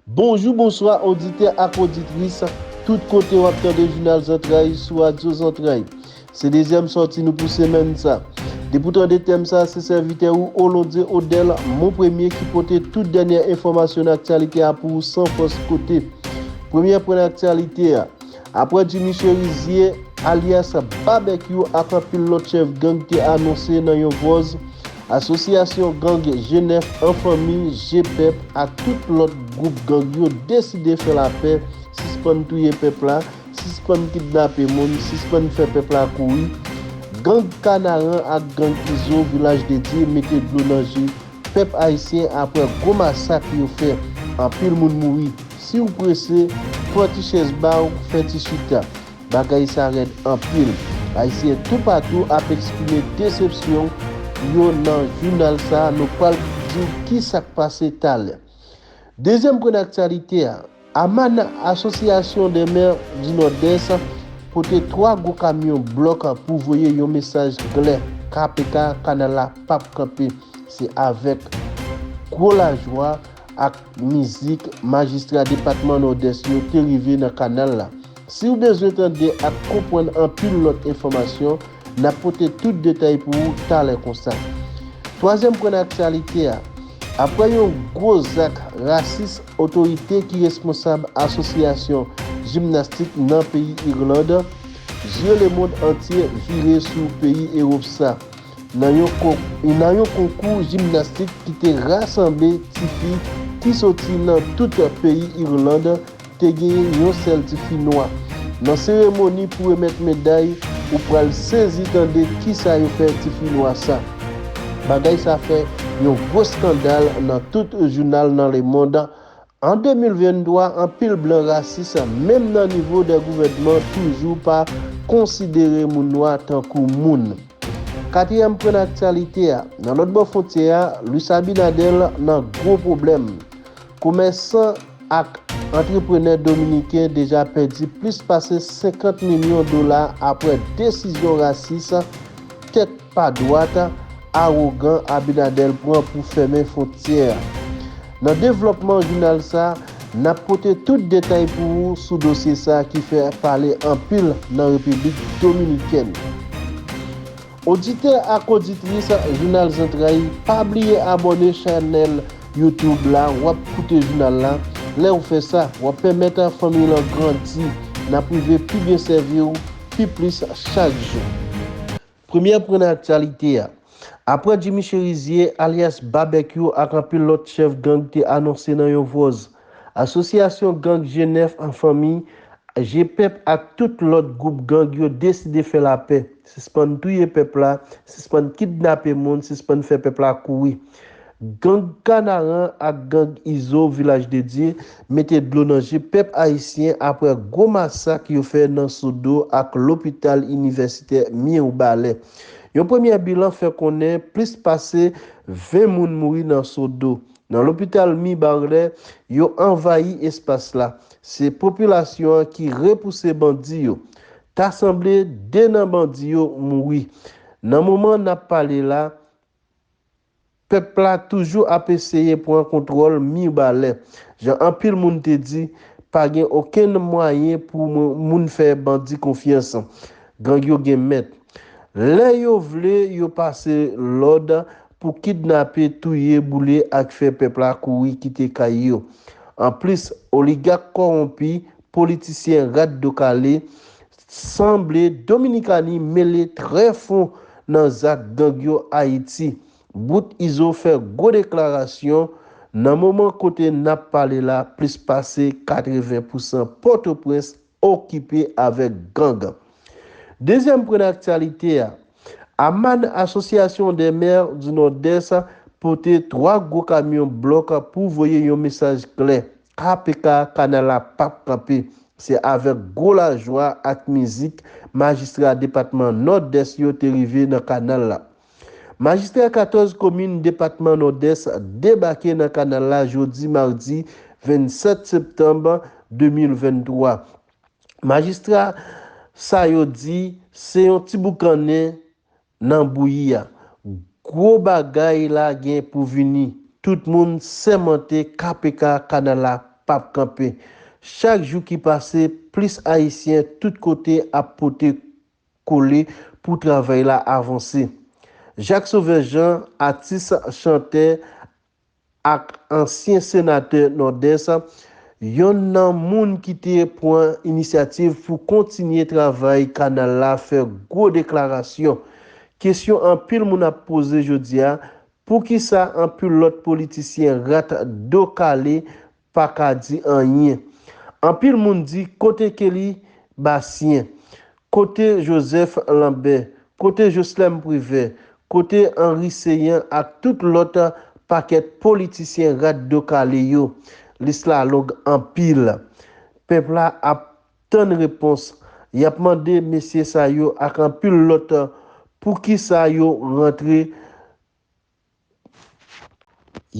Bonjou bonswa oditè ak oditris tout kote wap tande jounal zantray sou radyo zantray se dezyèm sòti nou pou semèn sa depi w tande tèm sa se sèvitè ou Olondie Odel mon premye ki pote tout dènyè enfòmasyon nan aktyalite a pou ou san fòs kote premyè pwen nan aktyalite a. Aprè Jimmy Cherizier, alyas Babekyou ak anpil lòt chèf gang te anonse nan yon vòz, asosyasyon gang Jenèf an Fanmi, Jepep, ak tout lòt gwoup gang yo deside fè lapè, sispann touye pèp la, sispann kidnape moun, sispann fè pèp la kouri. Gang Kanaran ak gang Izo, Vilaj de Dye, mete dlo nan je. Pèp ayisyen aprè gwo masak yo fè anpil moun mouri siw prese pran ti chèz baw fè ti chita bagay sa rèd anpil ayisyen tou patou ap eksprime desepsyon yo nan jounal sa nou pral diw kisak pase talè dezyèm pwen aktyalite a. Aman Asosyasyon dè mè di Nòdès pote 3 gwo kamyon blòk pou voye yon mesaj klè kpk kanal la pap kanpe se avèk gwo lajwa ak mizik majistra depatman Nòdès yo te rive nan kanal la siw bezwen tande ak konprann anpil lòt enfòmasyon N ap pote tout detay pou ou talè konsa. Twazyèm pwen nan aktyalite a, Aprè yon gwo zak rasis otorite ki responsab asosyasyon jimnastik nan peyi Irland, zye lemond antye vire sou peyi Ewop sa nan yon konkou jimnastik ki te rasanble tifi ki soti nan tout peyi Irland, Te genyen yon sèl ti fi nwa. Nan seremoni pou remèt meday ou pral sezi tande kisa yo fè ti fi nwa sa. Bagay sa fè yon gwo skandal nan tout jounal nan lemond. An 2023 anpil blan rasis menm nan nivo dè gouvènman toujou pa konsidere moun nwa tankou moun. Katriyèm pwen nan aktyalite a, nan lòt bò fwontyè a Luis Abinader nan gwo pwoblèm. Komèsan ak antreprenè dominiken deja pèdi plis pase 50 milyon dola apre desizyon rasis, tèt pa dwat, awogan Abinadel pran pou fèmen fwontyè a. Nan devlòpman jounal sa, n ap pote tout detay pou ou sou dosye sa ki fè pale anpil nan Repiblik Dominikèn. Oditè ak oditris jounal zantray pa bliye abòne chanèl YouTube la wap koute jounal la lèw fè sa wap pèmèt fanmiy lan grandi nap rive pi byen sèviw pi plis chak jou. Premye pwen nan aktyalite a. Aprè Jimmy Cherizier, alyas Babekyou ak anpil lòt chèf gang te anonse nan yon vòz, Asosyasyon gang Jenèf an fanmi, Jepep ak tout lòt gwoup gang yo deside fè lapè, sispann touye pèp la, sispann kidnape moun, sispann fè pèp la kouri. Gang Kanaran ak gang Izo Vilaj de Dye mete dlo nan je pèp ayisyen aprè gwo masak yo fè nan Sodo ak lopital inivèsitè Mirbalè. Yon premyè bilan fè konnen plis pase 20 moun mouri nan Sodo, Nan lopital Mibalè, yo anvayi espas la. Se popilasyon an ki repouse bandi yo. Ta sanble 2 nan bandi yo mouri. Nan moman n ap pale la, pèp la toujou ap eseye pran kontwòl Mibalè. Jan anpil moun te di, pa gen okenn mwayen pou moun fè bandi konfyans. Gang yo gen mèt. Lè yo vle, yo pase lòd pou kidnape, touye, boule ak fè pèp la kouri kite kay yo. Anplis, oligak kòwonpi, politisyen rat do kale, sanble Dominikani mele trè fon nan zak gang yo Ayiti. Bout Izo fè gwo deklarasyon, Nan moman kote n ap pale la plis pase 80 pousan Pòtoprens okipe avèk gang. Dezyèm pwen nan aktyalite a, AMAN, Asosyasyon dè Mè di Nòdès, pote 3 gwo kamyon blòk pou voye yon mesaj klè, KPK, kanal la pap kanpe. Se avèk gwo lajwa ak mizik majistra depatman Nòdès yo te rive nan kanal la. Majistra 14 komin depatman Nòdès debake nan kanal la jodi madi 27 septanm 2023. Majistra sa yo di se yon ti boukannen nan bouyi a. Gwo bagay la gen pou vini. Tout moun sèmante KPK kanal la pap kanpe. Chak jou ki pase plis ayisyen tout kote ap pote. kole pou travay la avanse. Jacques Sauveur Jean, atis, chantè ak ansyen senatè Nòdès, yonn nan moun ki te pran inisyativ pou kontinye travay kanal la fè gwo deklarasyon. Kesyon anpil moun ap poze jodi a, poukisa anpil lòt politisyen rat do kale paka di anyen anpil moun di kote Kelly Bastien kote Joseph Lambert kote Joslèm Privert kote Henry Céant ak tout lòt pakèt politisyen rat do kale yo lis la long anpil pèp la ap tann repons yap mande mesye sa yo ak anpil lòt poukisa yo rantre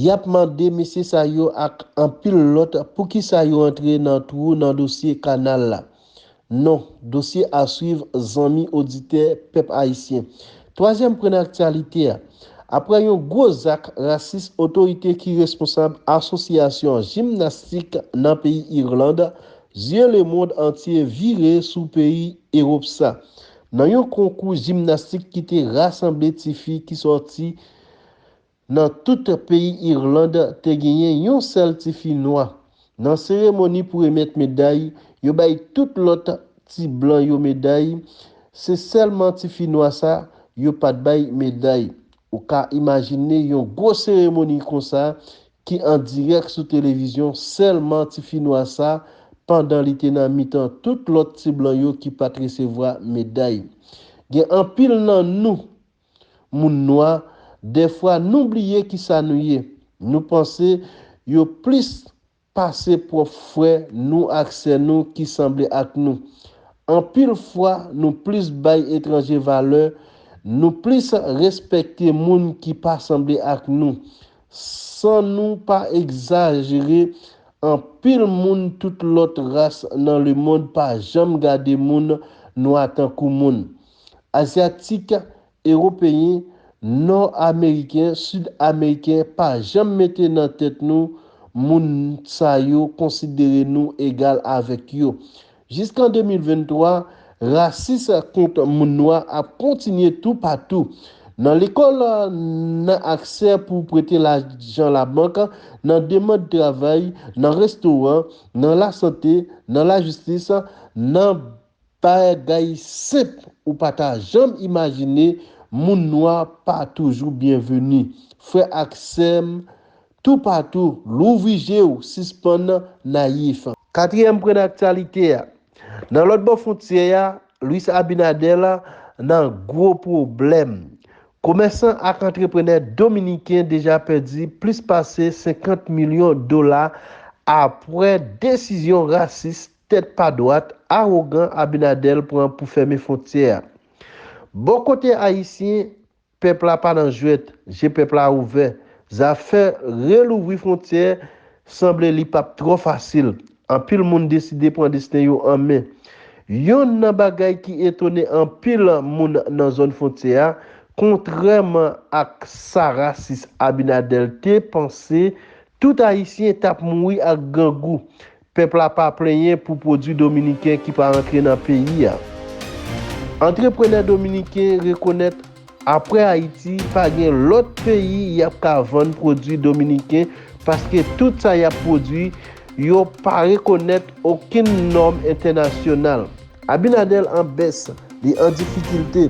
Yap mande mesye sa yo ak anpil lòt poukisa yo antre nan twou nan dosye kanal la. Non, dosye aswiv zanmi oditè pèp ayisyen. Twazyèm pwen nan aktyalite a. Aprè yon gwo zak rasis otorite ki responsab asosyasyon jimnastik nan peyi Irland, zye lemond antye vire sou peyi Ewop sa. Nan yon konkou jimnastik ki te rasanble ti fi ki sòti nan tout peyi Irland, te genyen yon sèl ti fi nwa. Nan seremoni pou remèt meday, yo bay tout lòt ti blan yo meday, se sèlman ti fi nwa sa yo pat bay meday. Ou ka imajine yon gwo seremoni konsa ki an dirèk sou televizyon sèlman ti fi nwa sa pandan li te nan mitan tout lòt ti blan yo ki pat resevwa meday. Gen anpil nan nou, moun nwa, dèfwa nou bliye kisa nou ye, nou panse yo plis pase pwòp frè nou ak sè nou ki sanble ak nou. Anpil fwa nou plis bay etranje valè, nou plis respekte moun ki pa sanble ak nou, San nou pa egzajere, anpil moun tout lòt ras nan lemond pa janm gade moun nwa tankou moun. Azyatik, Ewopeyen, Nò Ameriken, Sid Ameriken pa janm mete nan tèt nou moun sa yo konsidere nou egal avèk yo. Jiskan 2023, rasis kont moun nwa ap kontinye toupatou, nan lekòl, nan aksè pou prete lajan labank, nan demand travay, nan restoran, nan lasante, nan lajistis, nan bagay senp ou pa ta janm imajine, moun nwa pa toujou byenveni. Frè ak sè m, Toupatou, louvri je ou, sispann nayif. Katriyèm pwen nan aktyalite a. Nan lòt bò fwontyè a, Luis Abinader nan gwo pwoblèm. Komèsan ak antreprenè dominiken deja pèdi plis pase 50 milyon dola apwè desizyon rasis, tèt pa dwat, awogan Abinader pran pou fèmen fwontyè a. Bò kote ayisyen, Pèp la pa nan jwèt, je pèp la ouvè. Zafè relouvri fwontyè sanble li pap twò fasil. Anpil moun deside pran desten yo an men. Yonn nan bagay ki etone anpil moun nan zòn fwontyè a, kontrèman ak sa rasis Abinader te panse, tout Ayisyen tap mouri ak grangou. Pèp la pa plenyen pou pwodwi dominiken ki pa antre nan peyi a. Antreprenè dominiken rekonèt aprè Ayiti pa gen lòt peyi y ap ka vann pwodwi dominiken paske tout sa y ap pwodwi yo pa rekonèt okenn nòm entènasyonal. Abinader an bès, li an difikilte.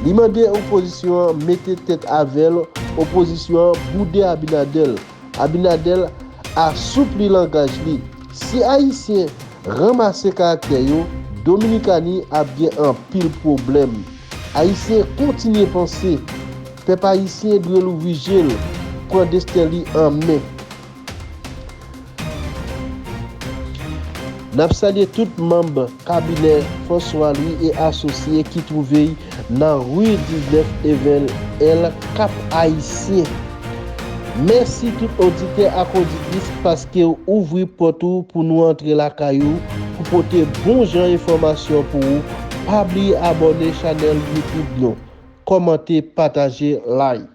Li mande opozisyon an mete tèt avè l, opozisyon an boude Abinader. Abinader asoupli langaj li. Si Ayisyen ranmase karaktè yo, Dominikani ap gen anpil pwoblèm. Ayisyen kontinye panse. Pèp Ayisyen dwe louvri je l, pran desten li an men. N ap salye tout manb. Kabinè François Louis et Associés ki twouve y nan rue 19 Evel L. Kap Ayisyen. Mèsi tout oditè ak oditris paske w ouvri pòt ou pou nou antre lakay ou pou pote bon jan enfòmasyon pou ou, pa bliye abòne chanèl youtube nou, kòmante, pataje, like.